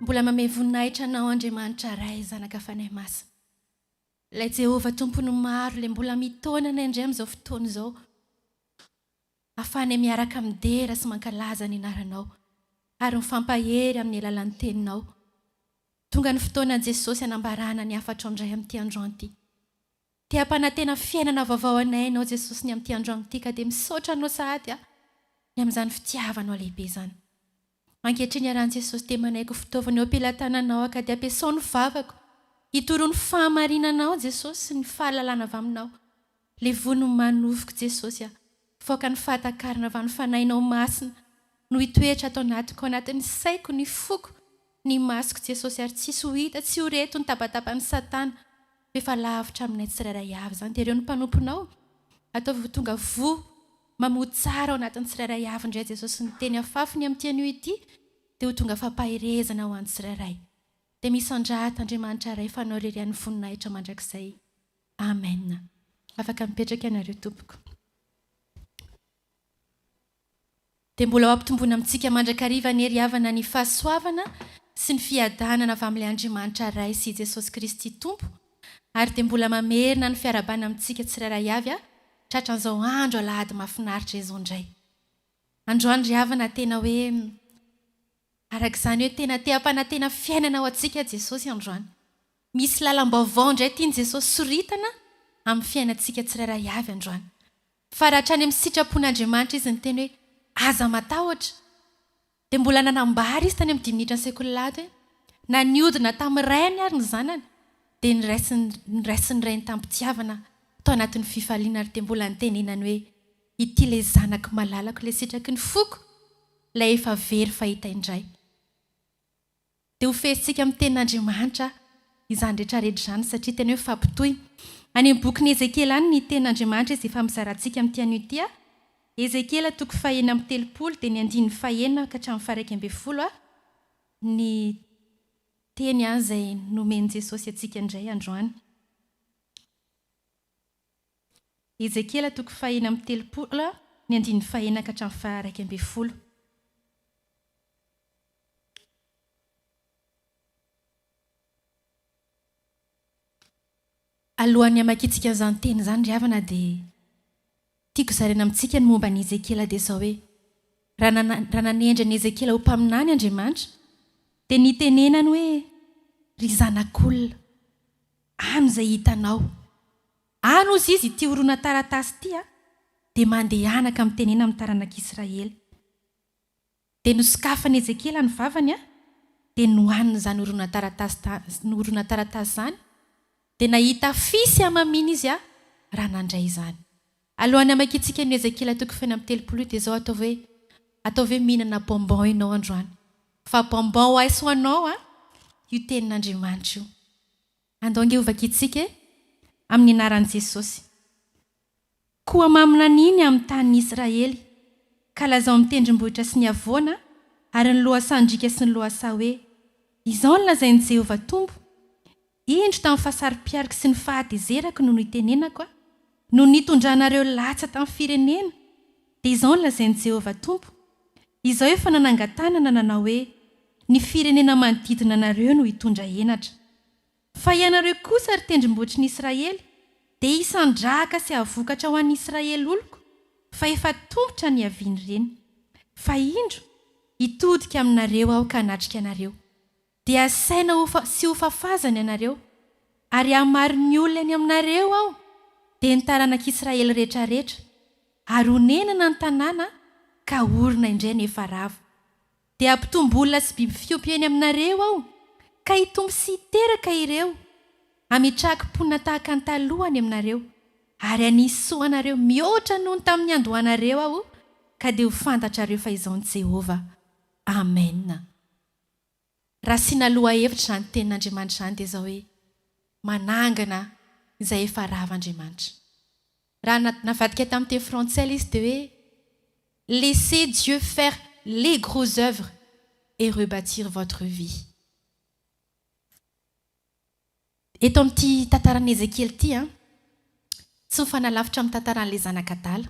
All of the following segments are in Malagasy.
Mbola manome voninahitra Anao Andriamanitra Ray, Zanaka, Fanahy Masina. Ilay Jehovah Tompon'ny maro Ilay mbola mitaona anay indray amin'izao fotoana izao hahafahanay miaraka midera sy mankalaza ny Anaranao ary mifampahery amin'ny alalan'ny Teninao. Tonga ny fotoana Jesosy hanambarana ny hafatrao indray amin'ity androany ity. Te hampanantena fiainana vaovao anay Ianao Jesosy ny amin'ity androany ity ka dia misaotra Anao sahady aho ny amin'izany fitiavanao lehibe izany. Ankehitriny ary an'i Jesosy dia manaiky ho fitaovana eo am-pelatananao aho ka dia ampiasao ny vavako hitoroa ny fahamarinanao Jesosy sy ny fahalalana avy aminao. Levoho ny manofiko Jesosy aho. Fôka ny fahatakarana avy amin'ny Fanahinao Masina no hitoetra ato anatiko, ao anatin'ny saiko, ny foko, ny masoko Jesosy ary tsisy ho hita, tsy ho re eto ny tabataban'i Satana. efa lavitra aminay tsirairay avy izany dia ireo ny mpanomponao, ataovy ho tonga voa mamoa tsara ao anatin'ny tsirairay avy indray Jesosy ny teny afafy ny amin'ity anio ity dia ho tonga fampaherezana ho an'ny tsirairay dia misandrata Andriamanitra Ray Fanao irery any voninahitra mandrakizay Amen afaka mipetraka ianareo tompoko. dia mbola ho ampitomboina amintsika mandrakariva anie ry havana ny fahasoavana sy ny fiadanana avy amin'ilay Andriamanitra Ray sy i Jesosy Kristy Tompo ary dia mbola mamerina ny fiarahabana amintsika tsirairay avy aho tratran'izao andro alahady mahafinaritra izao indray androany ry havana tena hoe araka izany hoe tena te hampanantena fiainana ho antsika Jesosy androany misy lalam-baovao indray tian'i Jesosy soritana amin'ny fiainantsika tsirairay avy androany Fa raha hatrany amin'ny sitrapon'Andriamanitra izy niteny hoe, Aza matahotra, dia mbola nanambara izy tany amin'ny dimy minitra ny sekoly-lahady hoe, Na nihodina tamin'ny rainy àry ny zanany, dia noraisin'ny rainy tamim-pitiavana tao anatin'ny fifaliana ary dia mbola nitenenany hoe, Ity ilay Zanako malalako, ilay sitraky ny foko, ilay efa very fahita indray. Dia ho fehezitsika amin'ny tenin'Andriamanitra izany rehetrarehetra izany satria tena hoe fampitohy. Any amin'ny bokin'i Ezekiela any ny tenin'Andriamanitra izy efa mizara antsika amin'ity anio ity a. Ezekiela toko fahenina amby telopolo dia ny andininy fahenina ka hatramin'ny faharaika ambin'ny folo a. Ny teny izay nomen'i Jesosy antsika indray androany. Ezekiela toko fahenina amby telopolo, ny andininy fahenina ka hatramin'ny faha-iraika ambin'ny folo. Alohan'ny hamakiantsika izany teny izany ry havana dia tiako zaraina amintsika ny momba an'i Ezekiela dia izao hoe, raha nana, raha nanendry an'i Ezekiela ho mpaminany Andriamanitra dia nitenenany hoe, Ry zanak'olona, Any izay hitanao. Any hozy izy ity horonantaratasy ity a! Dia mandehana ka mitenena amin'ny taranak'Israely. Dia nosokafan'i Ezekiela ny vavany a! Dia nohaniny izany horonantaratasy ta, horonantaratasy izany, dia nahita afisy hamamiana izy a! raha nandray izany. Alohan'ny hamakiantsika an'i Ezekiela toko feno amby telopolo io dia izao ataovy hoe, Ataovy hoe mihinana bonbon ianao androany, fa bonbon ho aiso ho anao an! io tenin'Andriamanitra io. Andao ange hovakiantsika e! Amin'ny anaran'i Jesosy. Koa mamina an'iny amin'ny tanin'i Israely, ka lazao amin'ny tendrombohitra sy ny havoana ary ny lohasahan-driaka sy ny lohasaha hoe, Izao no lazain'i Jehovah Tompo, Indro tamin'ny fahasaro-pialiko sy ny fahatezerako no nitenenako aho, no nitondranareo latsa tamin'ny firenena, dia izao no lazain'i Jehovah Tompo, Izaho efa nanangan-tanana nanao hoe, Ny firenena manodidina anareo no hitondra henatra. Fa ianareo kosa, ry tendrombohitry ny Israely, dia hisandrahaka sy hahavokatra ho an'ny Israely oloko, fa efa tombotra nihavian'ireny. Fa indro, hitodika aminareo aho ka hanatrika anareo. Dia asaina ho fa, sy ho fafazana ianareo, ary hahamaro ny olona ny aminareo Aho, dia ny taranak'Israely rehetrarehetra, ary honenana ny tanàna ka horina indray ny efa rava. Dia hampitombo olona sy biby fiompy eny aminareo Aho, ka hitombo sy hiteraka ireo, hametrahako mponina tahaka ny taloha any aminareo, ary hanisy soa anareo mihoatra noho ny tamin'ny niandohanareo Aho, ka dia ho fantatrareo fa Izaho ny Jehovah. Amena. Raha asiana lohahevitra izany tenin'Andriamanitra izany dia izao hoe, manangana izay efa rava Andriamanitra. Raha navadika tamin'ny teny frantsay ilay izy dia hoe, laissez Dieu faire les gros œuvres et rebâtir votre vie. Eto amin'ity tantaran'i Ezekiela ity, tsy mifanalavitra amin'ny tantaran'ilay zanak'adala.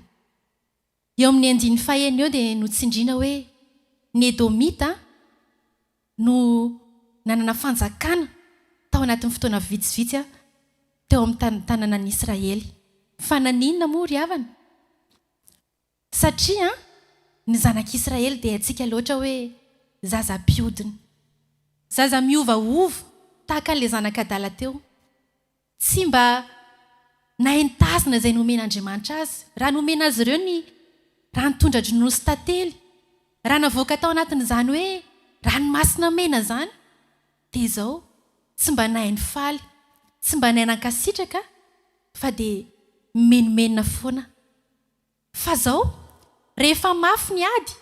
Eo amin'ny andininy fahenina eo dia notsindriana hoe ny Edomita no nanana fanjakana tao anatin'ny fotoana vitsivitsy teo amin'ny tanànan'i Israely. Fa naninona moa ry havana? Satria ny zanak'Israely dia haintsika loatra hoe zaza mpiodina. Zaza miovaova tahaka an'ilay zanak'adala teo. Tsy mba nahen-tazana izay nomen'Andriamanitra azy, raha nomena azy ireo ny raha nitondra-dronono sy tantely, raha navoaka tao anatin'izany hoe ranomasina mena izany, dia izao, tsy mba nahay nifaly, tsy mba nahay nankasitraka, fa dia mimenomenona foana. Fa izao, rehefa mafy ny ady,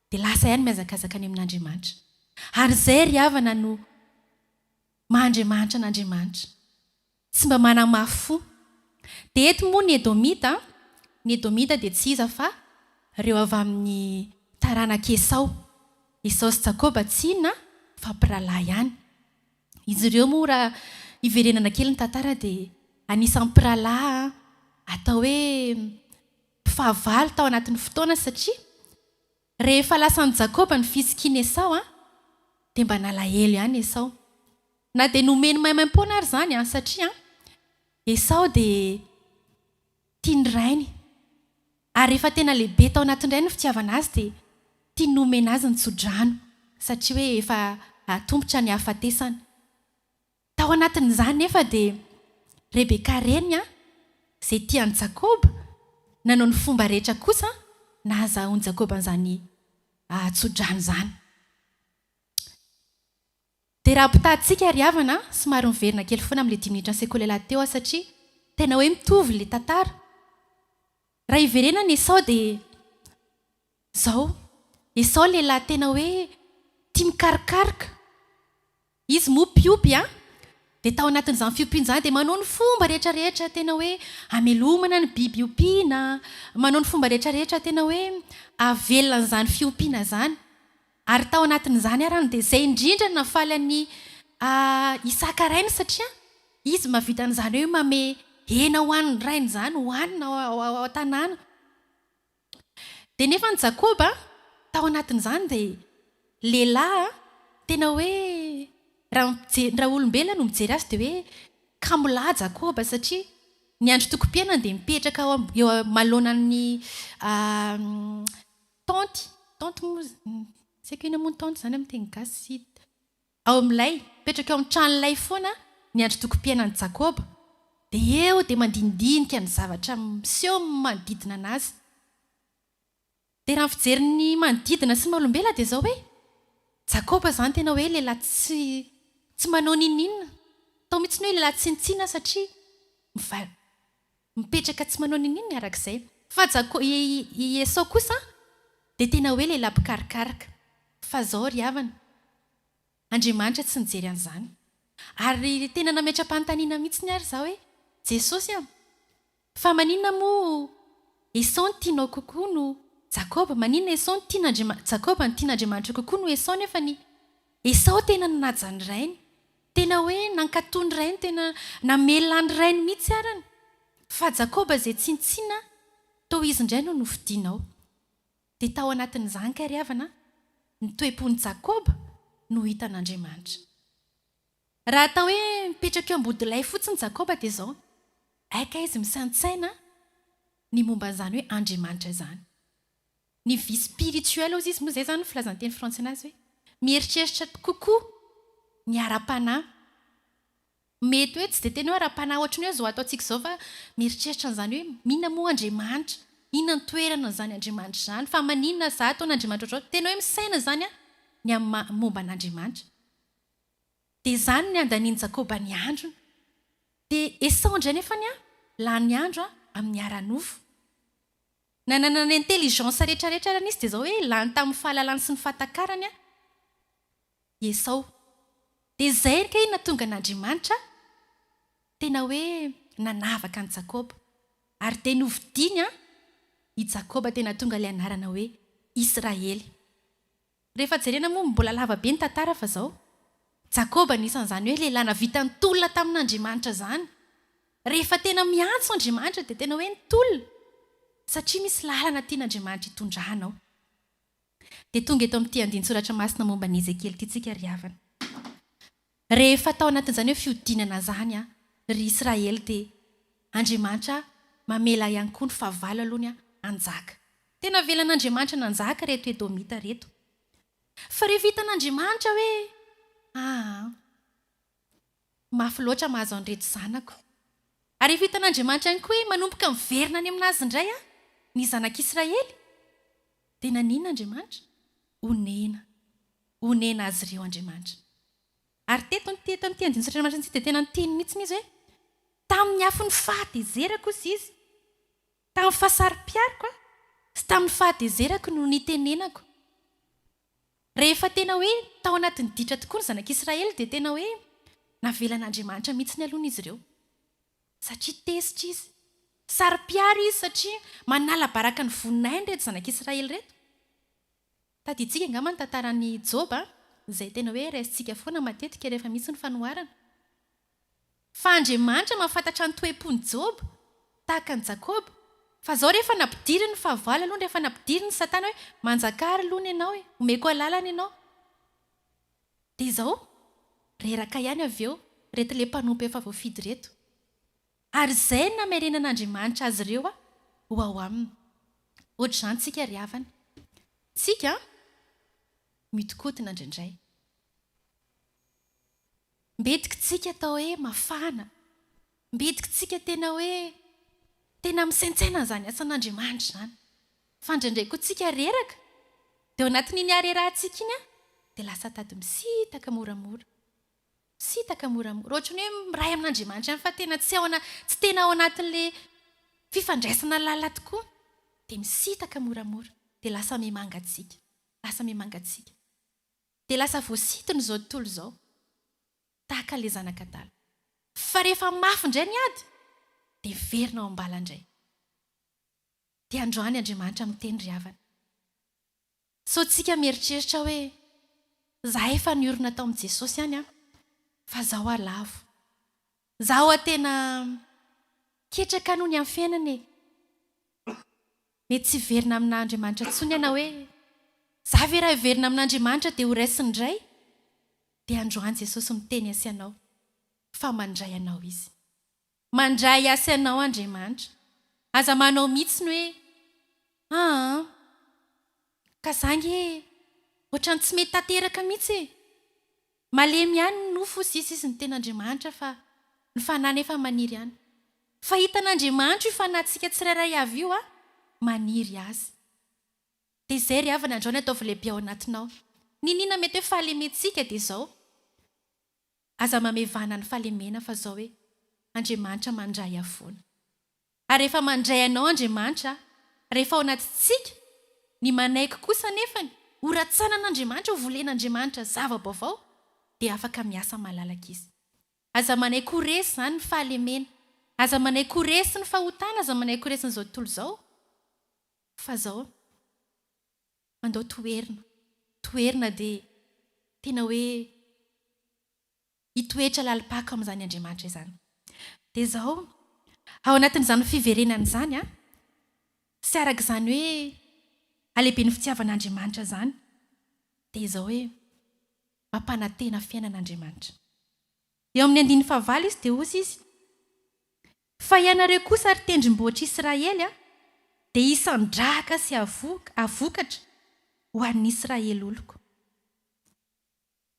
dia lasa ihany mihazakazaka any amin'Andriamanitra. Ary izay ry havana no Maha Andriamanitra an'Andriamanitra. Tsy mba manamafy fo. Dia eto moa ny Edomita, ny Edomita dia tsy iza fa ireo avy amin'ny taranak'i Esao. Esao sy Jakoba tsy inona fa mpirahalahy ihany. Izy ireo moa raha hiverenana kely ny tantara dia anisan'ny mpirahalahy atao hoe mpifahavalo tao anatin'ny fotoana satria, Rehefa lasan'i Jakoba ny fisikian'i Esao, dia mba nalahelo ihany Esao. Na dia nomeny maimaimpoana ary izany, satria Esao dia tia ny rainy. Ary rehefa tena lehibe tao anatin-drainy ny fitiavana azy, dia tiany nomena azy ny tso-drano, satria hoe efa atombotra ny hahafatesana. Tao anatin'izany nefa dia Rebeka reny izay tia an'i Jakoba nanao ny fomba rehetra kosa nahazahoan'i Jakoba an'izany tsodrano izany. Dia raha ampitahatsika ry havana, somary miverina kely foana amin'ilay dimy minitra nisekoilay lahy teo aho satria tena hoe mitovy ilay tantara. Raha hiverenana e sao dia Izao, Esao lehilahy tena hoe tia mikarokaroka. Izy moa mpiompy an! Dia tao anatin'izany fiompiany izany dia manao ny fomba rehetra rehetra tena hoe hamelomana ny biby ompiana, manao ny fomba rehetra rehetra tena hoe hahavelona an'izany fiompiana izany. Ary tao anatin'izany àry dia izay indrindra no nahafaly an'i Isaka rainy satria izy mahavita an'izany hoe manome hena ho an'ny rainy izany hohanina ao an-tanàna. Dia nefa ny Jakoba tao anatin'izany dia lehilahy tena hoe raha olombelona no mijery azy dia hoe kamo lahy Jakoba satria niandry tokim-piainany dia mipetraka eo amaloanan'ny tent, tent moa, tsy haiko inona moa ny tent izany amin'ny teny gasy, Ao amin'ilay mipetraka eo amin'ny tranolay foana niandry tokim-piainan'i Jakoba, dia eo dia mandinidinika ny zavatra miseho manodidina anazy. Dia raha ny fijery ny manodidina sy ny maha-olombelona dia izao hoe, Jakoba izany tena hoe lehilahy tsy tsy manao n'inon'inona, atao mihitsy ny hoe lehilahy tsinontsina satria miva. Mipetraka tsy manao ninoninona araka izay. Fa Jakô, i, i Esao kosa dia tena hoe lehilahy mpikarokaroka. Fa izao ry havana, Andriamanitra tsy nijery an'izany. Ary tena nametra-panontaniana mihitsiny ary izaho hoe, Jesosy a, fa maninona moa Esao no tianao kokoa no Jakôba? Maninona Esao no tian' Andriamanitra, Jakôba no tian' Andriamanitra kokoa no Esao nefa ny Esao tena nanaja ny rainy? Tena hoe nankatò ny rainy, tena namela ny rainy mihitsy arany. Fa Jakoba izay tsintsina toa izy indray no nofidinao. Dia tao anatin'izany kay ry havana a, ny toe-pon'i Jakoba no hitan'Andriamanitra. Raha atao hoe mipetraka eo am-bodilay fotsiny Jakoba dia izao, hay kay izy misaintsaina ny momba an'izany hoe Andriamanitra izany. Ny vie spirituelle hozy izy, moa izay izany ny filazan-teny frantsay anazy hoe mieritreritra kokoa ny ara-panahy. Mety hoe tsy dia tena hoe ara-panahy ohatry ny hoe izao ataontsika izao fa mieritreritra an'izany hoe inona moa Andriamanitra, inona ny toerany an'izany Andriamanitra izany, fa maninona za ataon' Andriamanitra ohatr'izao, tena hoe misaina izany aho ny amin'ny maha momba an'Andriamanitra. Dia izany ny andanian'i Jakoba ny androny. Dia esaho indray nefany an, lany andro amin'ny ara-nofo. Nanana ny intelligence rehetra rehetra arany izy dia izao hoe lany tamin'ny fahalalany sy ny fahatakarany i Esao. Dia izay ange no nahatonga an'Andriamanitra tena hoe nanavaka an'i Jakoba. Ary dia novidiany i Jakoba dia nahatonga ilay anarana hoe Israely. Rehefa jerena moa mbola lava be ny tantara fa zao. Jakoba anisan'izany hoe lehilahy navita nitolona tamin'Andriamanitra zany. Rehefa tena miantso Andriamanitra dia tena hoe nitolona satria misy lalana tian'Andriamanitra hitondrana ao. Dia tonga eto amin'ity andinin-tsoratra masina momba an'i Ezekiel ity tsika ry havana. Rehefa tao anatin'izany hoe fihodinana izany an, ry Israely dia Andriamanitra mamela ihany koa ny fahavalo aloha ny hanjaka. Tena avelan'Andriamanitra nanjaka ireto Edomita ireto. Fa rehefa hitan'Andriamanitra hoe aa, mafy loatra mahazo an'ireto zanako. Ary rehefa hitan'Andriamanitra ihany koa hoe manomboka miverina any amin'Azy indray an, ny zanak'Israely, dia nanina Andriamanitra? Onena. honena azy ireo Andriamanitra. Ary teto amin'ity eto amin'ity andininy Satria Andriamanitra dia tena niteny mihitsy izy hoe, Tamin'ny afon'ny fahatezerako hoy Izy, tamin'ny fahasaro-piaroko sy tamin'ny fahatezerako no nitenenako. Rehefa tena hoe tao anatin'ny ditra tokoa ny zanak'Israely dia tena hoe navelan'Andriamanitra mihitsy ny aloha izy ireo. Satria tezitra Izy. Saro-piaro Izy satria manala baraka ny voninahiny ireto zanak'Israely ireto. Tadidintsika angamba ny tantaran'i Joba, izay tena hoe raisintsika foana matetika rehefa misy ny fanoharana. Fa Andriamanitra mahafantatra ny toe-pon'i Joba, tahaka an'i Jakoba. Fa izao rehefa nampidiriny fahavalo aloha, rehefa nampidiriny Satana hoe, Manjakà ary lono ianao e, omeko alalana ianao. Dia izao, reraka ihany avy eo, ireto ilay mpanompo efa voafidy ireto. Ary izay no namerenan'Andriamanitra azy ireo ho ao aminy. Hoatr'izany tsika ry havana. Tsika mihodinkodina indraindray. Mbetika tsika atao hoe mafana. Mbetika tsika tena hoe tena misaintsaina an'izany asan'Andriamanitra izany. Fa indraindray koa tsika reraka. Dia ao anatin'iny harerahantsika iny dia lasa tady misitaka moramora. Misitaka moramora. Ohatran'ny hoe miray amin'Andriamanitra ihany fa tena tsy ao ana-, tsy tena ao anatin'ilay fifandraisana lalina tokoa. Dia misitaka moramora. Dia lasa mimangatsiaka. Lasa mimangatsiaka. Dia lasa voasinton'izao tontolo izao. Tahaka ilay zanak'adala. Fa rehefa mafy indray ny ady, dia miverina ao am-bala indray. Dia androany Andriamanitra miteny ry havana. Sao tsika mieritreritra hoe, Zahay efa niorina tao amin'i Jesosy ihany an, fa zao hoa lavo. Za hoa tena ketraka noho ny amin'ny fiainana e. Mety tsy hiverina amina Andriamanitra intsony ianao hoe, za ve raha hiverina amina Andriamanitra dia ho raisiny indray? Dia androany Jesosy miteny asianao fa mandray anao Izy. Mandray asa anao Andriamanitra. Aza manao mitsiny hoe aa ka za nge otrany tsy mety tanteraka mitsy e! Malemy ihany ny nofo sy sy ny ten'Andriamanitra fa ny fanahy nefa maniry any. Fa hitan'Andriamanitra io fanahintsika tsirairay avy io a! Maniry azy. De izay ry havana androany ataovy lehibe ao anatinao. Niniana mety hoe fahalementsika de zao. Aza mamevana ny fahalemena fa zao e, Andriamanitra mandray havoana. Ary rehefa mandray anao Andriamanitra, rehefa ao anatintsika, ny manaiky kosa anefany ho ratsanan'Andriamanitra, ho volen'Andriamanitra zava-baovao, dia afaka miasa malalaka Izy. Aza manaiky ho resy izany ny fahalemena, aza manaiky ho resy ny fahotana, aza manaiky ho resy an'izao tontolo izao fa zao. Andao toherina, toherina dia tena hoe hitoetra lalim-pako amin'izany Andriamanitra izany. Dia izao, ao anatin'izany fiverenana izany an, sy araka izany hoe halehiben'ny fitiavan'Andriamanitra izany, dia izao hoe mampanantena fiainana Andriamanitra. Eo amin'ny andininy fahavalo izy dia hozy izy. Fa ianareo kosa, ry tendrombohitr' Israely, dia hisandrahaka sy havokatra ho an' ny Israely oloko.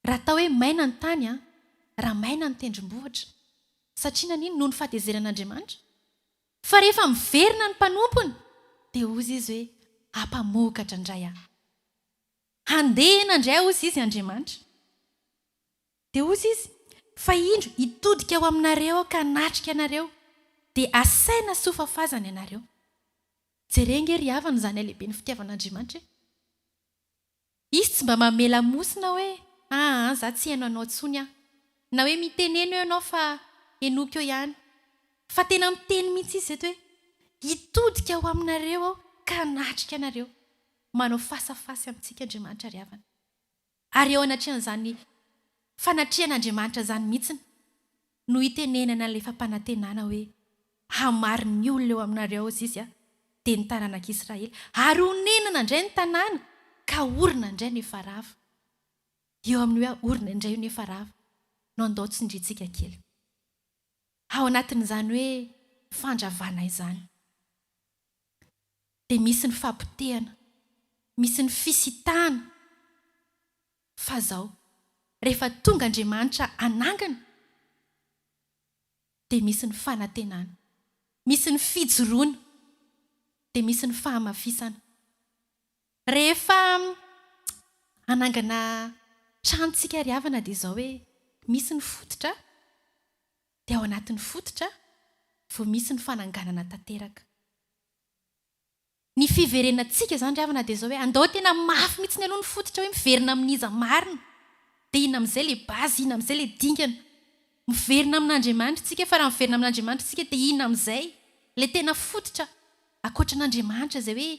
Raha atao hoe maina ny tany, raha maina ny tendrombohitra. Satria naninona? Noho ny fahatezeran' Andriamanitra. Fa rehefa miverina ny mpanompony, dia hozy Izy hoe, Hampamokatra indray Aho. Handeha nandray azy Izy, Andriamanitra. Dia hozy izy, Fa indro, hitodika ho aminareo aho ka hanatrika anareo, dia asaina soa fafazana ianareo. Jereo ange ry havana izany halehiben'ny fitiavan'Andriamanitra e! Izy tsy mba manome lamosina hoe, aa za tsy heno anao intsony aho, na hoe miteneno eo ianao fa henoiko eo ihany, fa tena miteny mihitsy izy eto hoe, hitodika ho aminareo aho ka hanatrika anareo. Manao face à face amintsika Andriamanitra ry havana. Ary eo anatrehan'izany fanatrehan'Andriamanitra izany mihitsiny no itenenana ilay fampanantenana hoe, Hamarin' ny olona eo aminareo ao Zizy dia ny taranak' Israely, ary honenana indray ny tanàna, ka horina indray no efa rava. Io amin'ny hoe horina indray io no efa rava no andao tsindrintsika kely ao anatin'izany hoe fandravana izany. dia misy ny fapotehana, misy ny fisitahana, fa izao, rehefa tonga Andriamanitra hanangana, dia misy ny fanantenana, misy ny fijoroana, dia misy ny fahamafisana. Rehefa hanangana trano isika ry havana dia izao hoe, misy ny fototra, dia ao anatin'ny fototra vao misy ny fananganana tanteraka. Ny fiverenantsika izany ry havana dia izao hoe andao tena mafy mihitsiny aloha ny fototra hoe miverina amin'iza marina, dia inona amin'izay ilay base, inona amin'izay ilay dingana. Miverina amin'Andriamanitra isika fa raha miverina amin'Andriamanitra isika dia inona amin'izay ilay tena fototra ankoatran'Andriamanitra izay hoe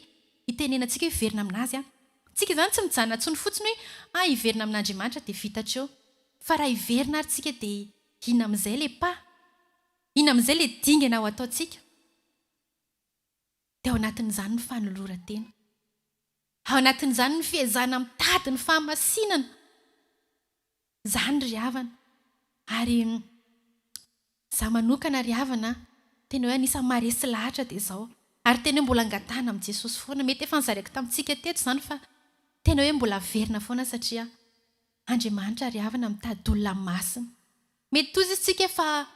itenenantsika hoe hiverina amin'azy aho. Tsika izany tsy mijanona intsony fotsiny hoe ah hiverina amin'Andriamanitra dia vita hatreo fa raha hiverina ary tsika dia Inona amin'izay ilay pa? Inona amin'izay ilay dingana ho ataontsika? Dia ao anatin'izany ny fanoloran-tena. Ao anatin'izany ny fiezahana mitady ny fahamasinana. Izany ry havana. Ary izaho manokana ry havana, tena hoe anisan'ny maharesy lahatra dia izao. Ary tena hoe mbola angatahana amin'i Jesosy foana. Mety efa nozaraiko tamintsika teto izany fa tena hoe mbola averina foana satria Andriamanitra ry havana mitady olona masina. Mety toizy isika fa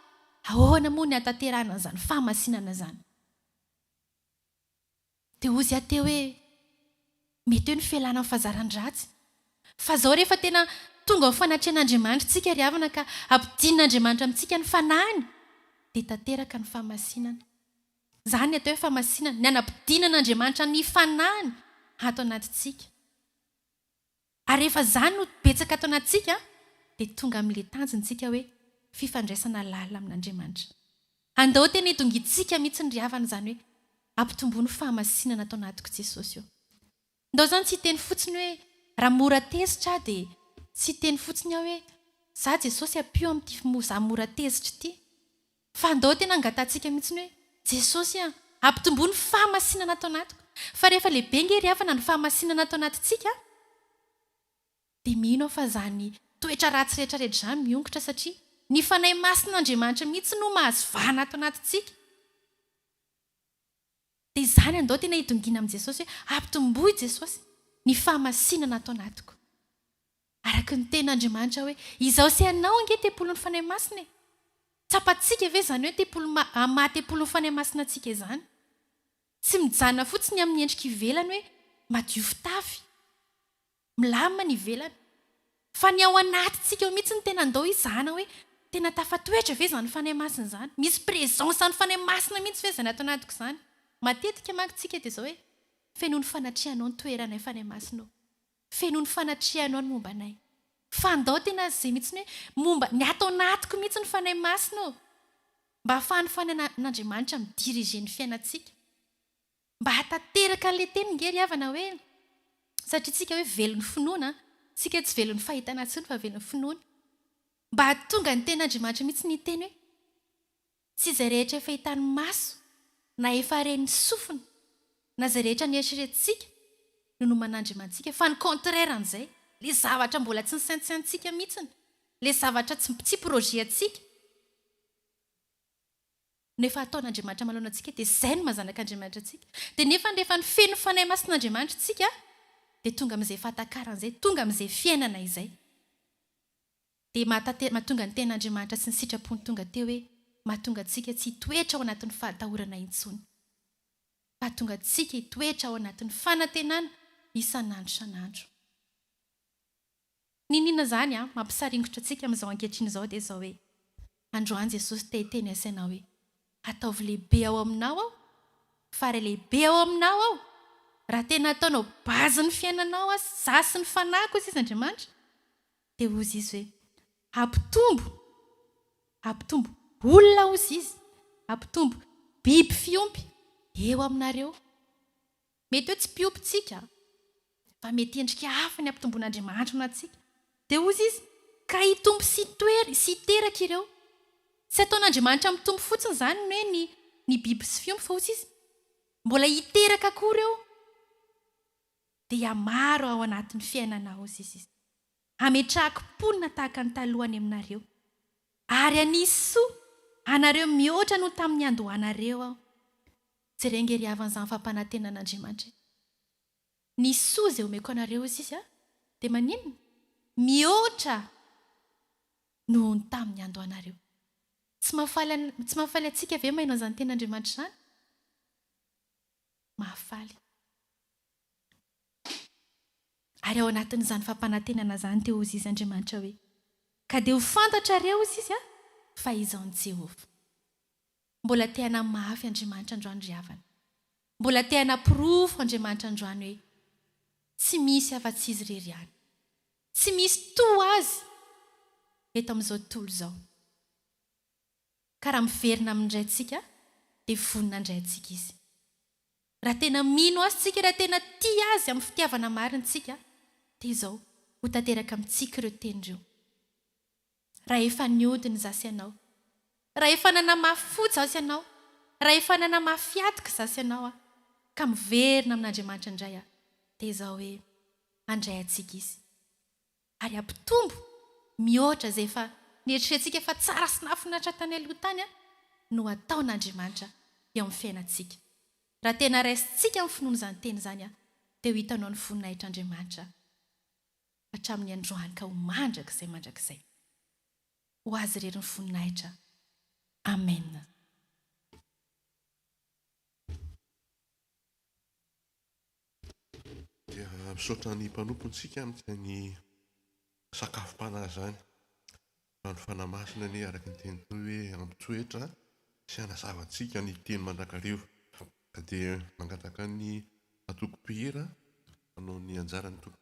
ahoana moa ny hatanterahana an'izany fahamasinana izany? Dia hozy aho teo hoe, mety hoe ny fialana amin'ny fazaran-dratsy. Fa izao rehefa tena tonga ho fanatrehan'Andriamanitra isika ry havana ka hampidin'Andriamanitra amintsika ny fanahiny dia tanteraka ny fahamasinana. Izany ny atao hoe fahamasinana, ny hanampidinan'Andriamanitra ny fanahiny ato anatintsika. Ary rehefa izany no betsaka ato anatintsika dia tonga amin'ilay tanjona isika hoe fifandraisana lalina amin'Andriamanitra. Andao tena hidongitsika mihitsy ry havana izany hoe ampitomboy ny fahamasinana ato anatiko Jesosy ô. Ndao izany tsy hiteny fotsiny hoe raha mora tezitra aho dia tsy hiteny fotsiny aho hoe za Jesosy ampio amin'ity mo za mora tezitra ity. Fa andao tena angatahantsika mihitsy ny hoe, Jesosy a, ampitomboa ny fahamasinana ato anatiko, fa rehefa lehibe ange ry havana ny fahamasinana ato anatintsika, dia mino aho fa izany toetra ratsy rehetra rehetra izany miongotra satria ny Fanahy Masin'Andriamanitra mihitsy no mahazo vahana ato anatintsika. Dia izany andao tena hidongina amin'i Jesosy hoe, Ampitomboa i Jesosy, ny fahamasinana ato anatiko. Araka ny tenin' Andriamanitra hoe, Izaho sy ianao ange tempolin' ny Fanahy Masina e! Tsapantsika ve izany hoe tempoly maha tempolin' ny Fanahy Masina antsika izany? Tsy mijanona fotsiny amin' ny endrika ivelany hoe madio fitafy, milamina ny ivelany, fa ny ao anatintsika ao mihitsy no tena andao hizahana hoe tena tafatoetra ve izany Fanahy Masina izany? Misy presence an' ny Fanahy Masina mihitsy ve izany ato anatiko izany? Matetika manko tsika dia izao hoe, Fenoy ny fanatrehanao ny toeranay Fanahy Masina o! Feno ny fanatrehanao ny momba anay. Fa ndao tena izay mihitsy hoe momba ny ato anatiko mihitsy ny Fanahy Masina ô! Mba ahafahan'ny Fanahin'Andriamanitra mi-diriger ny fiainantsika. Mba hahatanteraka an'ilay teny nge ry havana hoe, satria tsika hoe velon'ny finoana, tsika tsy velon'ny fahitana intsony fa velon'ny finoana. Mba hahatonga ny tenin'Andriamanitra mihitsy ny hiteny hoe. Tsy izay rehetra efa hitan'ny maso na efa ren'ny sofina na izay rehetra nieritreretintsika no noman'Andriamantsika fa ny contraire an'izay, ilay zavatra mbola tsy nisaintsaintsika mihitsiny, ilay zavatra tsy tsy projet antsika no efa ataon'Andriamanitra manoloana antsika dia izay no maha-zanak'Andriamanitra antsika. Dia nefany rehefa nifehy ny Fanahy Masin'Andriamanitra isika dia tonga amin'izay fahatakaran'izay, tonga amin'izay fiainana izay. dia mahatate mahatonga ny tenin'Andriamanitra sy ny sitrapony tonga teo hoe mahatonga antsika tsy hitoetra ao anatin'ny fahatahorana intsony. Hahatonga antsika hitoetra ao anatin'ny fanantenana isan'andro isan'andro. Niniana izany an, mampisaringotra antsika amin'izao ankehitriny izao dia izao hoe, androany Jesosy te hiteny asainao hoe, ataovy lehibe ao aminao aho, fare lehibe ao aminao aho, raha tena ataonao base ny fiainanao an, za sy ny fanahiko hoy sisa Andriamanitra, Dia hozy izy hoe, Hampitombo, hampitombo, olona hozy izy, hampitombo, biby fiompy, eo aminareo. Mety hoe tsy mpiompy tsika, fa mety endrika hafa ny hampitomboan'Andriamanitra ho antsika. Dia hozy izy, Ka hitombo sy hitoery sy hiteraka ireo. Tsy ataon'Andriamanitra mitombo fotsiny izany ny hoe ny, ny biby sy fiompy, fa hozy izy, Mbola hiteraka koa ireo. dia maro ao anatin'ny fiainanao hozy izy izay. Hametrahako mponina tahaka ny taloha any aminareo, ary hanisy soa anareo mihoatra noho tamin'ny niandohanareo aho. Jereo ange ry havana izany fampanantenan'Andriamanitra izany. Ny soa izay omeko anareo hozy izy aho dia maninona? Mihoatra noho ny tamin'ny niandohanareo. Tsy mahafaly an, tsy mahafaly antsika ve mahay an'izany tenin'Andriamanitra izany? Mahafaly. Ary ao anatin'izany fampanantenana izany dia hozizy Andriamanitra hoe, Ka dia ho fantatrareo, hozy izy an, fa izaho no Jehovah. Mbola te hanahy mafy Andriamanitra androany ry havana. Mbola te hanaporofo Andriamanitra androany hoe tsy misy afa-tsy Izy irery ihany. Tsy misy toa Azy eto amin'izao tontolo izao. Ka raha miverina aminy indray isika dia vonona handray antsika Izy. Raha tena mino Azy tsika, raha tena tia Azy amin'ny fitiavana marina tsika, dia izao, ho tanteraka amintsika ireo teny ireo. Raha efa niody ny za sy ianao, raha efa nanamafy fo za sy ianao, raha efa nanamafy hatoky za sy ianao aho, ka miverina amin'Andriamanitra indray aho, dia izao hoe, Handray antsika Izy. ary hampitombo mihoatra izay efa neritreretintsika fa tsara sy nahafinaritra tany aloha tany no hataon'Andriamanitra eo amin'ny fiainantsika. Raha tena raisintsika ny finoana izany teny izany dia ho hitanao ny voninahitr'Andriamanitra hatramin'ny androany ka ho mandrakizay mandrakizay. Ho Azy irery ny voninahitra. Amen. Dia misaotra ny mpanompontsika amin'izany sakafom-panahy izany. Fa ny Fanahy Masina anie araka ny teniny koa hoe hampitsoetra sy hanazava antsika ny teny mandrakariva. Ka dia mangataka ny antoko mpihira hanao ny anjarany tompoko.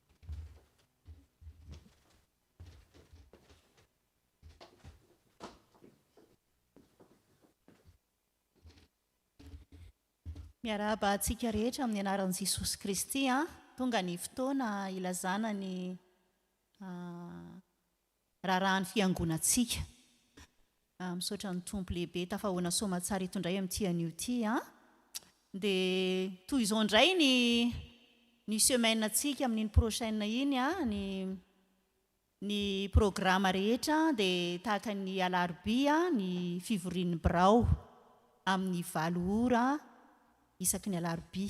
Miarahaba antsika rehetra amin'ny anaran'i Jesosy Kristy. Tonga ny fotoana hilazana ny raharahan'ny fiangonantsika. Misaotra ny Tompo lehibe tafahoana soamatsara itondray amin'ity anio ity a. Dia toy izao indray ny ny semaine antsika amin'iny prochaine iny a, ny ny programme rehetra dia tahaka ny alarobia ny fivorian'ny birao amin'ny valo ora isaky ny alarobia.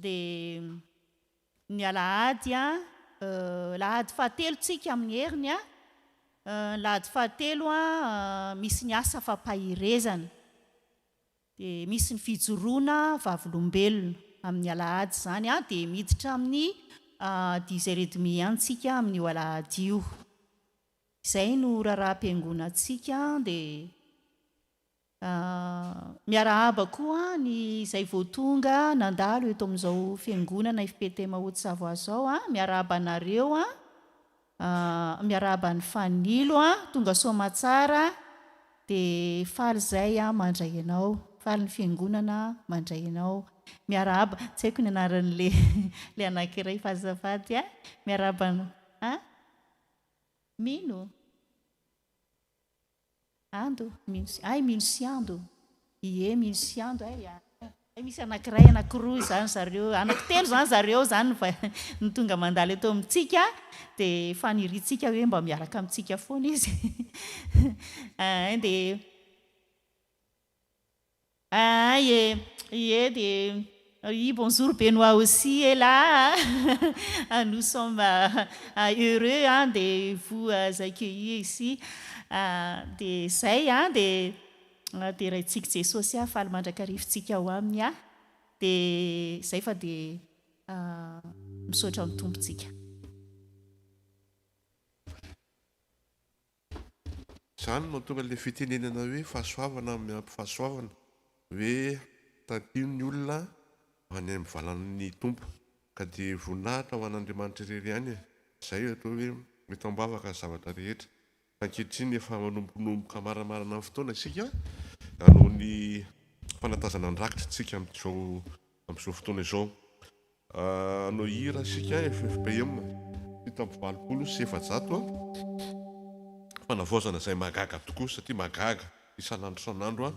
Dia ny alahady an, alahady fahatelo tsika amin'ny heriny an, ny alahady fahatelo an misy ny asa fampaherezana, dia misy ny fijoroana vavolombelona amin'ny alahady izany an, dia miditra amin'ny dix heures et demi any tsika amin'io alahady io. Izay no raharaham-piangonantsika dia. Miarahaba koa ny izay vao tonga nandalo eto amin'izao fiangonana FPTM Haute-Savoie izao a! Miarahaba anareo a! Miarahaba an'i Fanilo a! Tonga Soamatsara dia faly izay aho mandray anao, faly ny fiangonana mandray anao. Miarahaba, tsy haiko ny anaran'ilay ilay anankiray fa azafady a! Miarahaba anao a! Mino? Ando, mino sy, hay mino sy ando, ie mino sy ando hay a, hay misy anankiray anankiroa izany zareo, anankitelo izany zareo izany no tonga mandalo eto amintsika dia faniriantsika hoe mba miaraka amintsika foana izy, dia. Ahay e! Ie dia ry bonjour Benoît aussi e la a! Nous sommes heureux an de vous accueillir ici dia izay an dia deraintsika Jesosy a! Faly mandrakarivintsika ao aminy an! Dia izay fa dia misaotra ny Tompo tsika. Izany no mahatonga ilay fitenenana hoe fahasoavana miampy fahasoavana, hoe tampino ny olona any amin'ny valan'ny Tompo, ka dia voninahitra ho an'Andriamanitra irery ihany e! Izay io atao hoe mety ambavaka ny zavatra rehetra. Fa ankehitriny efa manombokanomboka maramarana ny fotoana isika hanao ny fanatazana an-drakitra tsika amin'izao Amin'izao fotoana izao, hanao hira isika FFPM fito amby valopolo sy efajato fanavaozana izay mahagaga tokoa satria mahagaga isan'andro isan'andro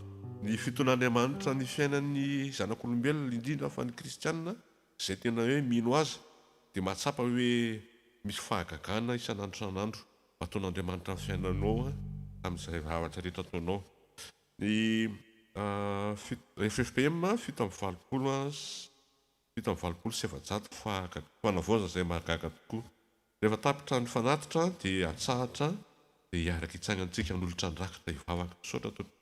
ny fiton'Andriamanitra ny fiainan'ny zanak'olombelona indrindra fa ny kristiana izay tena hoe mino azy dia mahatsapa hoe misy fahagagana isan'andro isan'andro ataon'Andriamanitra ny fiainanao amin'izay zavatra rehetra ataonao Ny fito ffpm fito amby valopolo fito amby valopolo sy efajato fa fanavaozana izay mahagaga tokoa. Rehefa tapitra ny fanatitra dia atsahatra dia hiaraka hitsangantsika hanolotra ny rakitra hivavaka. Misaotra tompoko.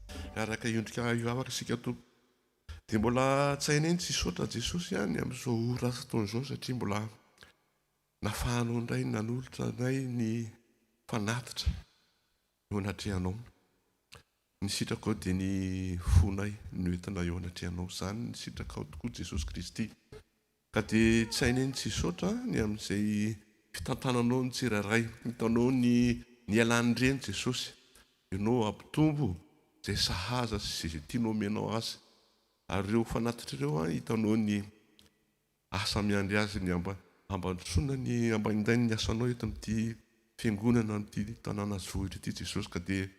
Miaraka hiondrika hivavaka isika Tompo. Dia mbola tsainay ny Tsisotra Jesosy an ny amin'izao ora asa ataony izao satria mbola nafahanao indray nanolotra anay ny fanatitra eo anatrehanao. Ny sitrakao dia ny fonay no entina eo anatrehanao. Izany ny sitrakao tokoa Jesosy Kristy. Ka dia tsy hay ny tsy hisaotra ny amin'izay fitantananao ny tsirairay. Hitanao ny nialany ireny Jesosy. Ianao ampitombo izay sahaza sy izay tianao omenao Azy. Ary ireo fanatitra ireo an, hitanao ny asa miandry azy ny hampandrosoana ny hampandainy ny asanao eto amin'ity Fiangonana amin'ity tanàna zohitra ity Jesosy. Ka dia.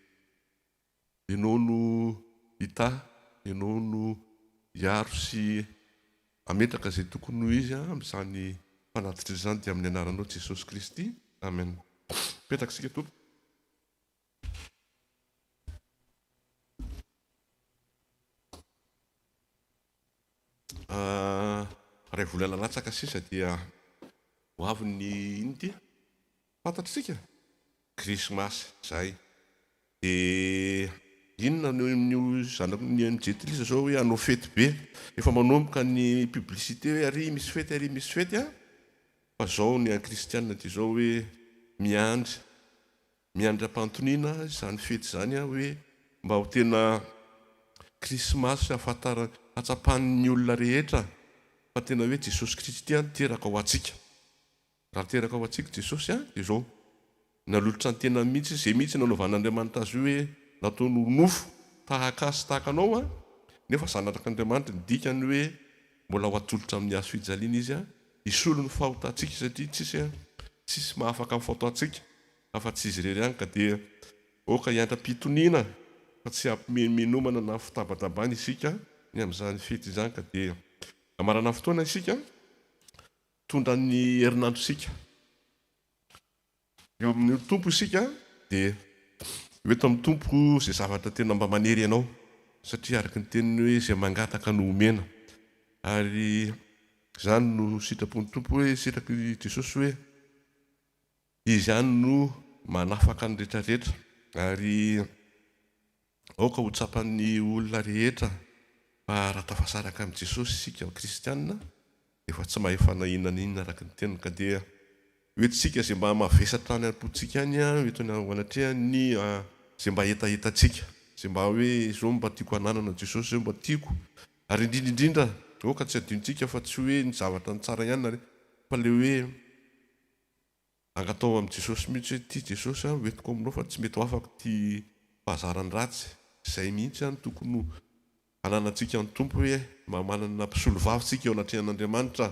Ianao no hitahy, Ianao no hiaro sy hametraka izay tokony ho izy amin'izany fanatitra izany, dia amin'ny anaranao Jesosy Kristy, Amen. Mipetraka isika Tompoko. Iray volana latsaka sisa dia ho avy ny inona ity? Fantatr'isika, krismasy izay dia inona no amin'io zanaky ny MJ Tris zao hoe hanao fety be, efa manomboka ny publicité hoe ary misy fety ary misy fety an! fa zao ny an'i Christiane ity zao hoe miandry, miandry ampantoniana izany fety izany an! hoe mba ho tena krismasy hahafantarany, hahatsapan'ny olona rehetra fa tena hoe Jesosy Kristy an! teraka ho antsika. Raha teraka ho antsika Jesosy a dia izao, nalolotra ny tenany mihitsy Izy, izay mihitsy nanovan'Andriamanitra Azy io hoe nataony ho nofo tahaka Azy sy tahaka anao a, nefa Zanak'Andriamanitra, ny dikany hoe mbola ho atolotra amin'ny Hazo fijaliana Izy a, hisolo ny fahotantsika satria tsisy a, tsisy mahafaka ny fahotantsika afa tsy Izy irery ihany ka dia aoka hiantra-pitoniana fa tsy hampimenomenomana na fitabatabana isika ny amin'izany fety izany ka dia hamarana fotoana isika Tondra ny herinandro isika eo amin'Ny Tompo isika dia ho eto amin'ny Tompo izay zavatra tena mba manery anao satria araka ny teniny hoe izay mangataka no homena ary izany no sitrapon'ny Tompo hoe sitraky Jesosy hoe Izy ihany no manafaka ny retraretra, ary aoka ho tsapan'ny olona rehetra fa raha tafasaraka amin'i Jesosy isika kristiana dia efa tsy mahefa na inona na inona araka ny teniny, ka dia io hetsika izay mba mavesatra any am-pontsika any io eto anatrehan'ny izay mba hetahetantsika, izay mba hoe izao no mba tiako hananana, Jesosy izao mba tiako, ary indrindra indrindra aoka tsy hadinontsika fa tsy hoe ny zavatra ny tsara ihany na fa ilay hoe. Angataho amin'i Jesosy mihitsy hoe tia Jesosy aho, hoentiko aminao fa tsy mety ho afaka ity fahazarany ratsy izay mihitsy any tokony ho ananantsika ny Tompo hoe mba manana mpisolovava isika eo anatrehan'Andriamanitra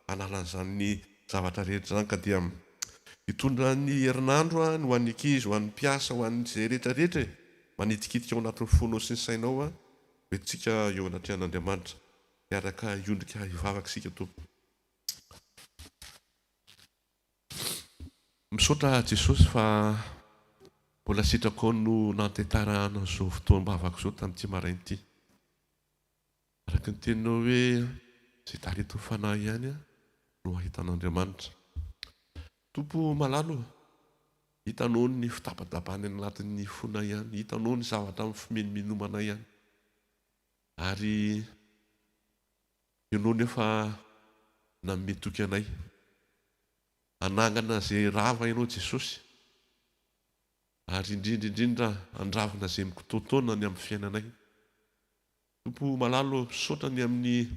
hanala an'izany zavatra rehetra izany ka dia hitondra ny herinandro any ho an'ny ankizy, ho an'ny mpiasa, ho an'izay rehetra rehetra e! manitikitika ao anatin'ny fonao sy ny sainao hoe hoentintsika eo anatrehan'Andriamanitra hiaraka hiondrika hivavaka isika Tompo. Misaotra Jesosy fa mbola sitrakao no nantentarahana izao fotoam-bavako izao tamin'ity maraina ity. Araka ny teninao hoe izay talentin'ny fanahy ihany no ahitan'Andriamanitra. Tompo o, malalo ô, hitanao ny fitabatabany any anatin'ny fonay any, hitanao ny zavatra mifimenomenomana any, ary. Ianao nefa nanome toky anay. Hanangana izay rava Ianao Jesosy, ary indrindra indrindra handravona izay mikitoatoana ny amin'ny fiainanay. Tompo malala ô, misaotra ny amin'ny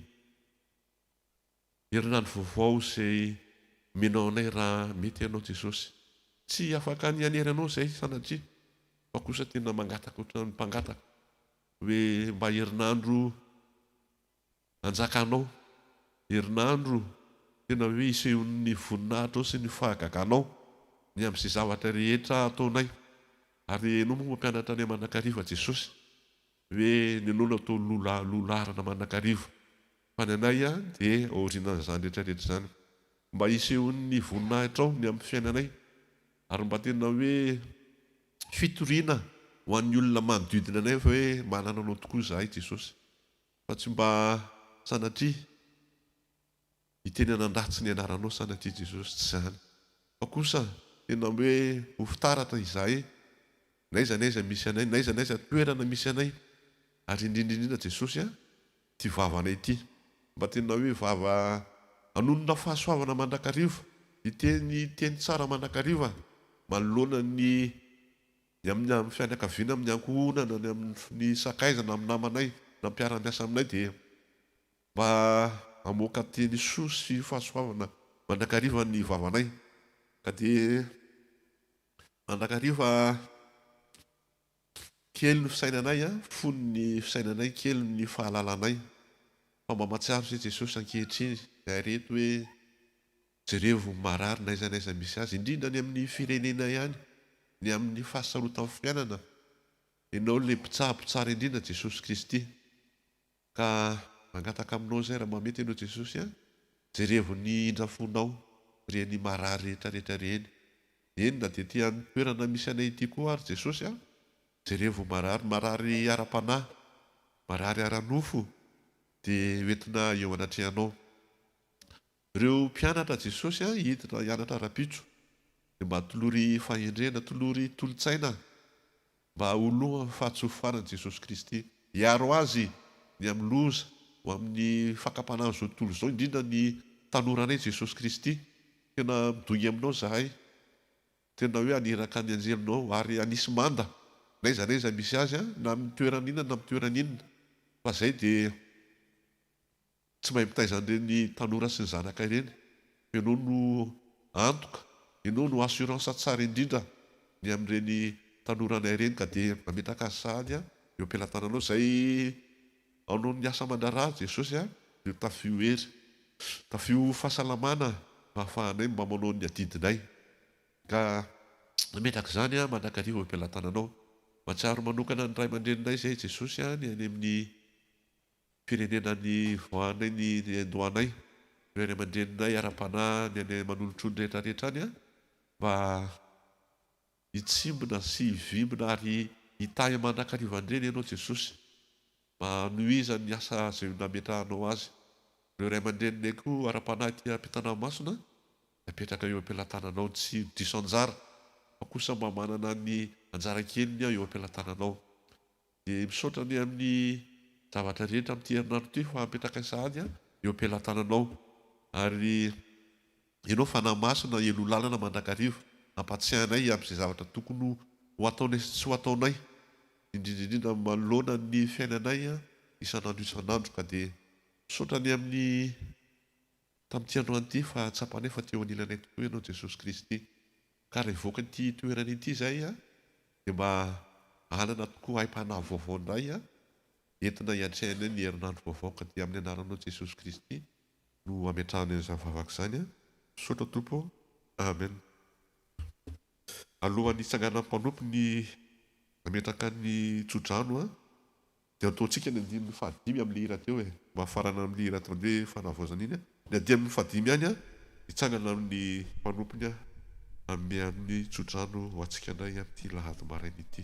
herinandro vaovao izay omenao anay raha mety Ianao Jesosy. Tsy afaka ny hanery Anao izahay sanatria, fa kosa tena mangataka ohatran'ny mpangataka hoe mba herinandro Anjakanao. Herinandro tena hoe isehon'ny voninahitrao sy ny fahagaganao ny amin'izay zavatra rehetra ataonay. Ary ianao moa mampianatra anay mandrakariva Jesosy. Hoe ny anao no atao lola lolarana mandrakariva. Fa ny anay dia aorianan'izany rehetra rehetra izany. Mba hisehon'ny voninahitrao ny amin'ny fiainanay. Ary mba tena hoe fitoriana ho an'ny olona manodidina anay fa hoe manana anao tokoa izahay Jesosy. Fa tsy mba sanatria hiteny hanandratsy ny anaranao sanatria Jesosy, tsy izany. Fa kosa tena hoe ho fitaratra izahay n'aiza n'aiza misy anay, n'aiza n'aiza toerana misy anay, ary indrindra indrindra Jesosy a, ity vavanay ity, mba tena hoe vava hanonona fahasoavana mandrakariva, hiteny teny tsara mandrakariva manoloana ny Ny amin'ny amin'ny fianakaviana, amin'ny ankohonana, ny amin'ny sakaizana, amin'ny namanay na mpiara-miasa aminay dia mba hamoaka teny soa sy fahasoavana mandrakariva ny vavanay ka dia mandrakariva kely ny fisainanay, fony ny fisainanay, kely ny fahalalanay fa mba mahatsiaro izay Jesosy ankehitriny, izay reto hoe Jerevo marary n'aiza n'aiza misy azy, indrindra any amin'ny firenenay any, ny amin'ny fahasarotan'ny fiainana, Ianao ilay mpitsabo tsara indrindra Jesosy Kristy. Ka mangataka aminao izay raha mba mety Ianao Jesosy an, jerevo ny indra fonao ireny marary rehetra rehetra ireny. Eny na dia aty amin'ny toerana misy anay ity koa ary Jesosy an, jerevo marary, marary ara-panahy, marary ara-nofo dia ho entina eo anatrehanao. Ireo mpianatra Jesosy hiditra hianatra rahampitso dia mba tolory fahendrena, tolory tolotsaina mba ho loha fahatsofofanan'i Jesosy Kristy. Hiaro azy ny amin'ny loza ho amin'ny fakapanan'izao tontolo izao indrindra ny tanoranay Jesosy Kristy. Tena midongy aminao zahay. Tena hoe haniraka ny anjelinao ary hanisy manda n'aiza n'aiza misy azy na amin'ny toerana inona na amin'ny toerana inona fa zay dia. Tsy mahay mitaiza an'ireny tanora sy ny zanaka ireny. Ianao no antoka, ianao no assurance tsara indrindra ny amin'ireny tanoranay ireny ka dia mametraka azy sahady eo am-pelatananao izay anao ny asa aman-draharaha Jesosy a! Io tafio io hery, tafio io fahasalamana mba ahafahanay mba manao ny adidinay ka mametraka izany aho mandrakariva eo am-pelatananao. Mahatsiaro manokana ny ray aman-dreninay izay Jesosy a! Ny any amin'ny. Firenena nivoahanay ny niandohanay, ry ray aman-dreninay ara-panahy ny any Manolotrony rehetra rehetra any a! mba hitsimbina sy hivimbina ary hitahy mandrakariva ndreny ianao Jesosy, mba hanohizany ny asa izay nametrahanao azy, ireo ray aman-dreninay koa ara-panahy aty am-pitanà masina dia apetraka eo am-pelatananao, tsy diso anjara fa kosa mba manana ny anjara keliny aho eo am-pelatananao, Dia misaotra anie amin'ny zavatra rehetra amin'ity herinandro ity fa apetrakay sahady eo am-pelatananao. Ary Ianao Fanahy Masina heloha lalana mandrakariva ampatsiahinay hiampy izay zavatra tokony ho ataonay sy tsy ho ataonay indrindra indrindra manoloana ny fiainanay isan'andro isan'andro ka dia misaotra anie amin'ny tamin'ity androany ity fa tsapanay fa teo anilanay tokoa Ianao Jesosy Kristy. Ka revoka ity toerana ity zay a de mba anana tokoa aim-panahy vaovao ndray a entina hiatrehana ny herinandro vaovao ka dia amin'ny anaranao Jesosy Kristy no ametrahana izany vavaka izany a misaotra Tompo ô Amen Alohan'ny hitsanganan'ny mpanompo ny hametraka ny tsodrano a Dia antontsika ny andininy fahadimy amin'ilay hira teo e. Mba afarana amin'iny hira ataony hoe Fanavaozana iny a. Ny andininy fahadimy ihany a, hitsangana amin'ny mpanompony a, hanome an'ny tsodrano ho antsika indray amin'ity lahady maraina ity.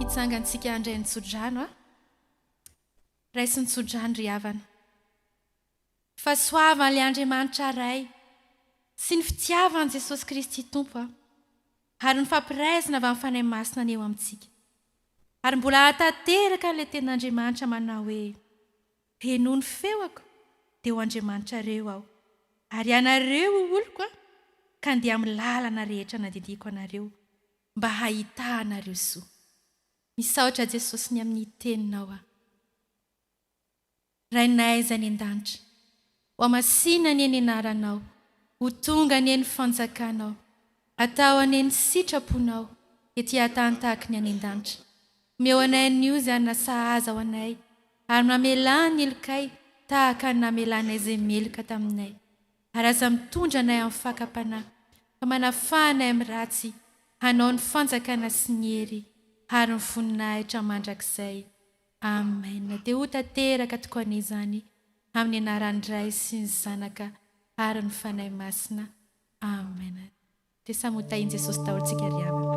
Hitsangantsika handray ny tsodrano a. Raiso ny tsodrano ry havana. Fa soavan' ilay Andriamanitra Ray sy ny fitiavan'i Jesosy Kristy Tompo a, ary ny fampiraisana avy amin'ny Fanahy Masina ny eo amintsika. Ary mbola hahatanteraka an'ilay tenin'Andriamanitra manao hoe. dia noho ny feoko dia ho Andriamanitrareo Aho, ary ianareo ho oloko Aho, ka andeha amin'ny lalana rehetra nandidiako anareo, mba hahitanareo soa. Misaotra Jesosy ny amin'ny Teninao aho. Rainay izay any an-danitra, Ho hamasina anie ny anaranao, ho tonga anie ny fanjakanao, hatao anie ny sitraponao ety an-tany tahaka ny any an-danitra. Omeo anay anio izany nasahaza ho anay, ary mamelà ny helokay tahaka ny namelànay izay meloka taminay. Ary aza mitondra anay amin'ny fakam-panahy, fa manafà anay amin'ny ratsy, hanao ny fanjakana sy ny hery, ary ny voninahitra mandrakizay. Amen dia ho tanteraka tokoany izany amin'ny anaran'ny Ray sy ny Zanaka ary ny Fanahy Masina Amen dia samy ho tahin'i Jesosy daholo tsika ry havana.